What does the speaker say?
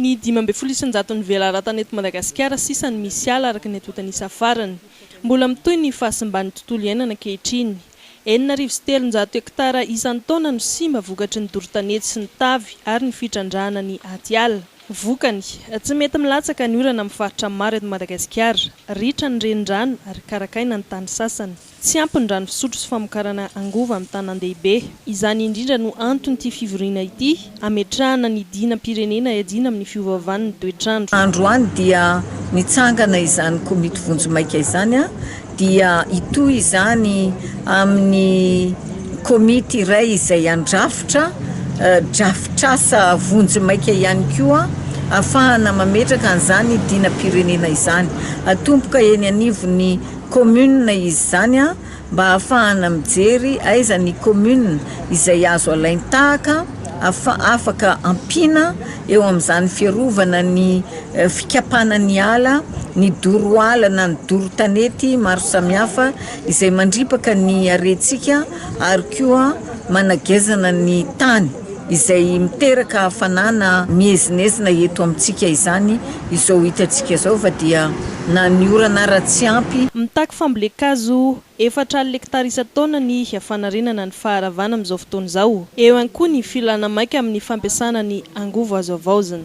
Ny dimy ambin'ny folo isan-jaton'ny velaratana eto Madagasikara sisa no misy ala araka ny antontan'isa farany. Mbola mitohy ny fahasimban'ny tontolo iainana ankehitriny. Enina arivo sy telonjato hektara isan-taona no simba vokatry ny doro tanety sy ny tavy ary ny fitrandrahana ny atiala. Vokany, tsy mety milatsaka ny orana amin'ny faritra maro eto Madagasikara. Ritra ny renirano ary karakaina ny tany sasany. Tsy ampy ny rano fisotro sy famokarana angovo amin'ny tanàndehibe. Izany indrindra no anton'ity fivoriana ity, hametrahana ny dinam-pirenena hiadiana amin'ny fiovaovan'ny toetr'andro. Androany dia nitsangana izany komity vonjy maika izany dia hitohy izany amin'ny komity iray izay handrafitra drafitr'asa vonjy maika ihany koa hahafahana mametraka an'izany dinam-pirenena izany hatomboka eny anivon'ny commune izy izany mba hahafahana mijery aiza ny commune izay azo alain-tahaka afaka ampiana eo amin'izany fiarovana ny fikapana ny ala, ny doro ala na ny doro tanety maro samihafa izay mandripaka ny harentsika ary koa managezana ny tany. izay miteraka hafanana miezinezina eto amintsika izany izao hitantsika izao fa dia na ny orana ara tsy ampy Mitaky fambolen-kazo efatra alina hektara isan-taona ny fanarenana ny faharavana amin'izao fotoana izao. Eo ihany koa ny filana maika amin'ny fampiasana ny angovo azo havaozina.